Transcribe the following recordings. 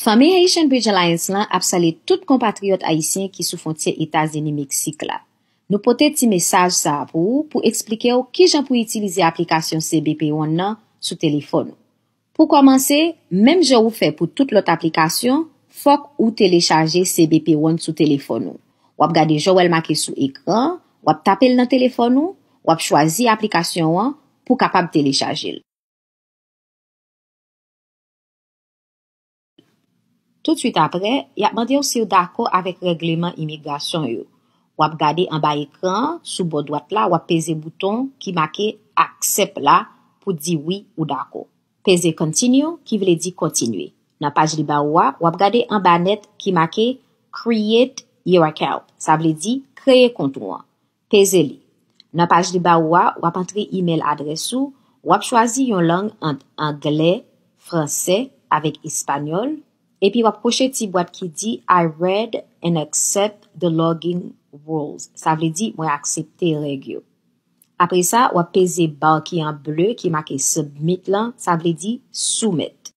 Fanmi Haitian Bridge Alliance lan ap salye tout konpatriyòt ayisyen ki sou fwontyè Etazini Meksik la. Nou pote ti mesaj sa a pou ou pou eksplike w kijan pou itilize aplikasyon CBP One nan sou telefòn ou. Pou kòmanse, menm jan ou fè pou tout lòt aplikasyon, fòk ou telechaje CBP One sou telefòn ou. W ap gade jan w wè l make sou ekran an, w ap tape l nan telefòn ou, w ap chwazi aplikasyon an pou kapab telechaje l. Tousuit apre, y ap mande w si w dakò avèk règleman imigrasyon yo. W ap gade anba ekran an, sou bò dwat la, w ap peze bouton ki make Accept la pou di wi ou dakò. Peze Continue, ki vle di Kontinye. Nan paj li ba ou a, w ap gade anba nèt ki make Create Your Account, sa vle di Kreye Kont ou an. Peze li. Nan paj li ba ou a, w ap antre imèl adrès ou, w ap chwazi yon lang ant Anglè, Fransè avèk Espanyòl, epi w ap kwoche ti bwat ki di I read and accept the login rules, sa vle di mwen aksepte règ yo. Apre sa, w ap peze ba ki an ble ki make Submit lan, sa vle di Soumèt.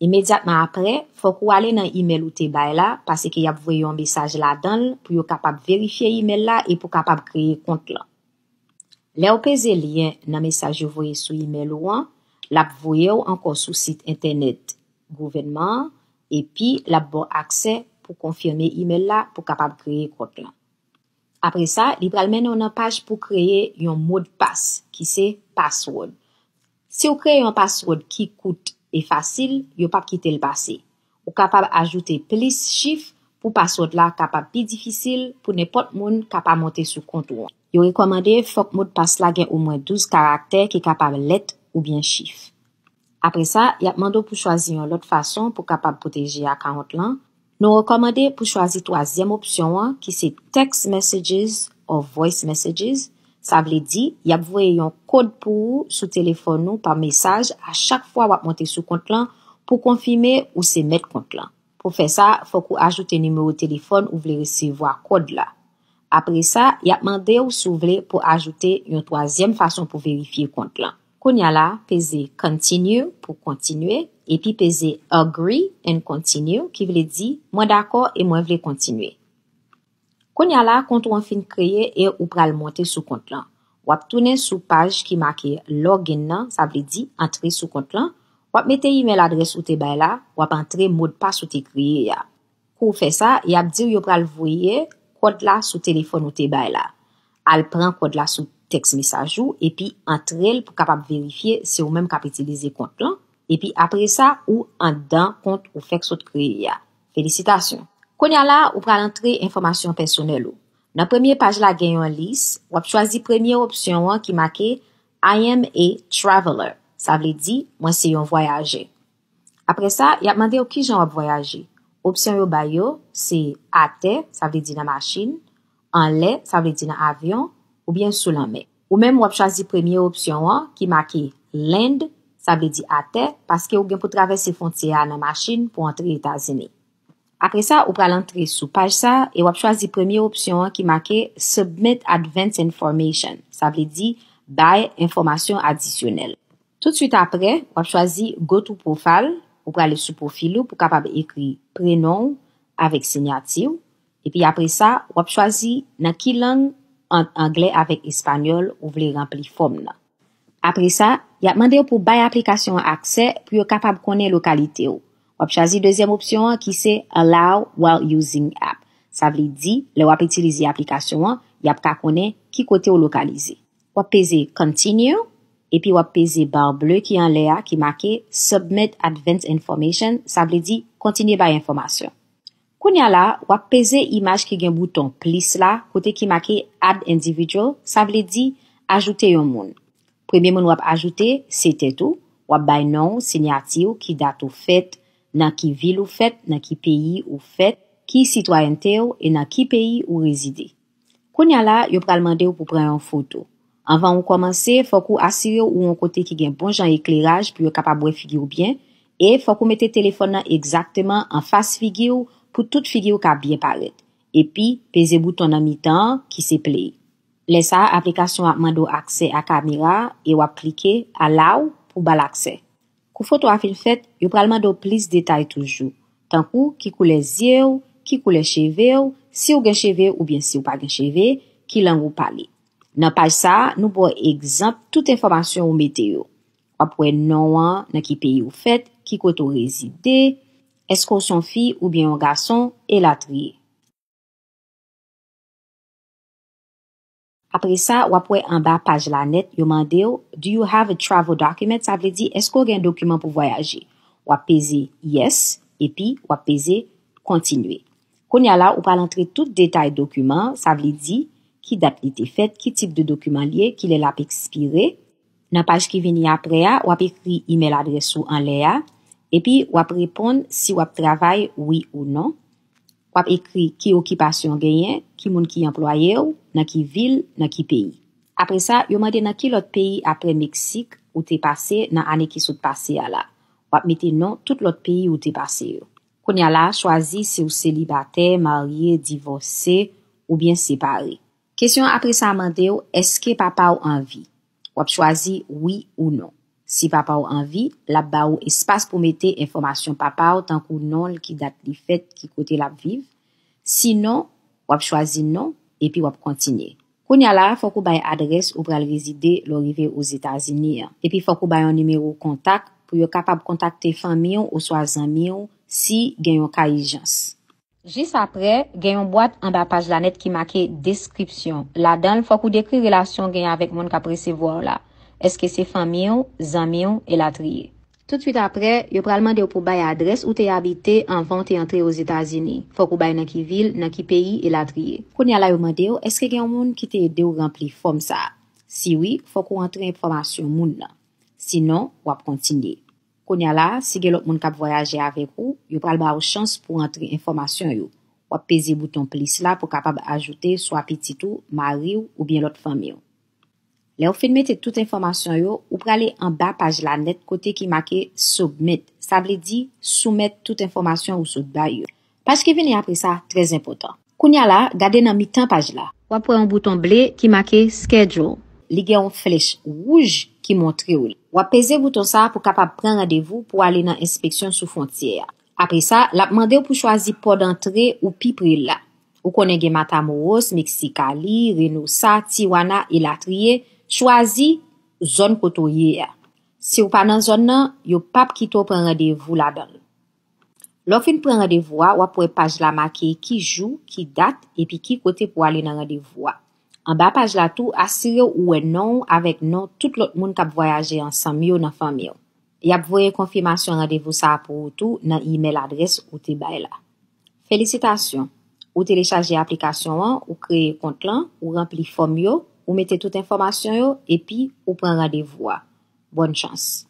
Imedyatman apre, fòk ou ale nan imèl ou te bay la, paseke y ap voye yon mesaj ladan l pou yo kapab verifye imèl la e pou kapab kreye kont lan. Lè ou peze lyen nan mesaj yo voye sou imèl ou an, l ap voye w ankò sou sit entènèt gouvènman an epi l ap ba w aksè pou konfime imèl la pou kapab kreye kont lan. Apre sa, li pral mennen w nan paj pou kreye yon modpas ki se password. Si w kreye yon password ki kout e fasil, yo pap kite l pase. Ou kapab ajoute plis chif pou password la kapab pi difisil pou nenpòt moun ka pa monte sou kont ou an. Yo rekòmande fòk modpas la gen omwen 12 karaktè ki kapab lèt oubyen chif. Apre sa, y ap mande w pou chwazi yon lòt fason pou kapab pwoteje akawont lan, nou rekòmande pou chwazi twazyèm opsyon an ki se Text Messages or Voice Messages, sa vle di y ap voye yon kod pou ou sou telefòn ou pa mesaj a chak fwa w ap monte sou kont lan pou konfime ou se mèt kont lan. Pou fè sa, fòk ou ajoute nimewo telefòn ou vle resevwa kòd la. Apre sa, y ap mande w si w vle pou ajoute yon twazyèm fason pou verifye kont lan. Kounya la, peze Continue pou kontinye, epi peze Agree and Continue ki vle di Mwen dakò e mwen vle kontinye. Kounya la, kont ou an fin kreye e ou pral monte sou kont lan. W ap tounen sou paj ki make Login nan, sa vle di Antre sou kont lan, w ap mete imèl adrès ou te bay la, w ap antre modpas ou te kreye a. Pou w fè sa, y ap di w yo pral voye kòd la sou telefòn ou te bay la. Al pran kòd la sou tèks mesaj ou epi antre l pou kapab verifye se ou menm k ap itilize kont lan, epi apresa ou anndan kont ou fèk sot kreye a. Felisitasyon! Kounye a la, ou pral antre enfòmasyon pèsonèl ou. Nan premye paj la gen yon lis, w ap chwazi premye opsyon an ki make I am a traveler, sa vle di, mwen se yon vwayajè. Apre sa, y ap mande w kijan w ap vwayaje. Opsyon yo bay yo se atè, sa vle di nan machin, anlè, sa vle di nan avyon, oubyen sou lanmè. Ou menm w ap chwazi premye opsyon an ki make Land, sa vle di atè, paske ou gen pou travèse fwontyè a nan machin pou antre Etazini. Apre sa, ou pral antre sou paj sa a e w ap chwazi premye opsyon an ki make Submit Advance Information, sa vle di Bay Enfòmasyon Adisyonèl. Toutswit apre, w ap chwazi Go to Profile, ou prale sou pwofil ou pou w kapab ekri prenon w avèk sinyati w, epi apre sa, w ap chwazi nan ki lang, ant Anglè avèk Espanyòl, ou vle ranpli fòm nan. Apre sa, y ap mande w pou w bay aplikasyon an aksè pou yo kapab konnen lokalite w. W ap chwazi dezyèm opsyon an ki se Allow while using app. Sa vle di, lè w ap itilize aplikasyon an, y ap ka konnen ki kote w lokalize. W ap peze Continue, epi w ap peze bar ble ki anlè a ki make Submit Advance Information, sa vle di Kontinye Bay Enfòmasyon. Kounye a la, w ap peze imaj ki gen bouton plis la kote ki make Add Individual, sa vle di Ajoute yon moun. Premye moun w ap ajoute, se tèt ou, w ap bay non w, sinyati w, ki dat ou fèt, nan ki vil ou fèt, nan ki peyi ou fèt, ki sitwayènte w e nan ki peyi ou rezide. Kounya la yo pral mande w pou pran yon foto. Anvan ou kòmanse, fòk ou asire w ou yon kote ki gen bon jan ekleraj pou yo kapab wè figi w byen, e fòk ou mete telefòn nan egzakteman anfas figi w pou tout figi w ka byen parèt. Epi, peze bouton nan mitan an ki se Play. Lè sa a aplikasyon an ap mande w aksè a kamera a e w ap klike Allow pou ba l aksè. Kou foto a fin fèt, yo pral mande w plis detay toujou, tankou ki koulè zye w, ki koulè cheve w, si w gen cheve oubyen si w pa gen cheve, ki lang ou pale. Nan paj sa a, nou ba w egzanp tout enfòmasyon ou mete yo. W ap wè non an, nan ki peyi ou fèt, ki kote ou rezide, èske w se yon fi oubyen yon gason, elatriye. Apre sa, w ap wè anba paj la nèt, yo mande w, Do you have a travel document? Sa vle di, Èske w gen dokiman pou vwayaje? W ap peze Yes, epi w ap peze Kontinye. Kounye a la, ou pral antre tout detay dokiman an, sa vle di, ki dat li te fèt, ki tip de dokiman l ye, ki lè l ap ekspire. Nan paj ki vini apre a, w ap ekri imèl adrès ou anlè a, epi w ap reponn si w ap travay wi ou non. W ap ekri ki okipasyon w genyen, ki moun ki anplwaye w, nan ki vil, nan ki peyi. Apre sa, yo mande nan ki lòt peyi apre Meksik ou te pase nan ane ki sot pase a la. W ap mete non tout lòt peyi ou te pase yo. Kounye a la, chwazi si w selibatè, marye, divòse, oubyen separe. Kesyon apre sa a mande w èske papa w anvi. W ap chwazi wi ou non. Si papa w anvi, l ap ba ou espas pou mete enfòmasyon papa w tankou non l, ki dat li fèt, ki kote l ap viv. Si non, w ap chwazi non epi w ap kontinye. Kounya la a, fòk ou bay adrès ou pral rezide lè w rive Ozetazini an. Epi fòk ou bay yon nimewo kontak pou yo kapab kontakte fanmi w oswa zanmi w si gen yon ka ijans. Jis apre, gen yon bwat anba paj la nèt ki make Deskripsyon. Ladan l, fòk ou dekri relasyon w genyen avèk moun k ap resevwa w la. Èske se fanmi w, zanmi w, elatriye. Toutswit apre, yo pral mande w pou w bay adrès ou te abite anvan w te antre Ozetazini. Fòk ou bay nan ki vil, nan ki peyi, elatriye. Kounye a la yo mande w èske gen yon moun ki te ede w ranpli fòm sa a. Si wi, fòk ou antre enfòmasyon moun nan. Sinon, w ap kontinye. Kounya la, si gen lòt moun k ap vwayaje avèk ou, yo pral ba ou chans pou antre enfòmasyon yo. W ap peze bouton plis la pou kapab ajoute swa pitit ou, mari w oubyen lòt fanmi w. Lè ou fin mete tout enfòmasyon yo, ou prale anba paj la nèt kote ki make Submit, sa vle di soumèt tout enfòmasyon ou sot bay yo. Paj ki vini apre sa trè enpòtan. Kounye a la, gade nan mitan paj la. W ap wè yon bouton ble ki make Schedule. Li gen yon flèch wouj ki montre w li. W ap peze bouton sa a pou kapab pran randevou pou ale nan enspeksyon sou fwontyè a. Apre sa, l ap mande w pou chwazi pò dantre ou pi pre la. Ou konnen gen Matamoros, Mexicali, Reynosa, Tijuana, elatriye. Chwazi zòn kote w ye a. Si w pa nan zòn nan, yo pap kite w pran randevou ladan l. Lè w fin pran randevou a, w ap wè paj la make ki jou, ki dat, epi ki kote pou w ale nan randevou a. Anba paj la tou, asire w ou wè non w avèk non tout lòt moun k ap vwayaje ansanm yo nan fanmi w. Y ap voye konfimasyon randevou sa a pou ou tou nan imèl adrès ou te bay la. Felisitasyon! Ou telechaje aplikasyon an, ou kreye kont lan, ou ranpli fòm yo, ou mete tout enfòmasyon yo, epi ou pran randevou a. Bòn chans!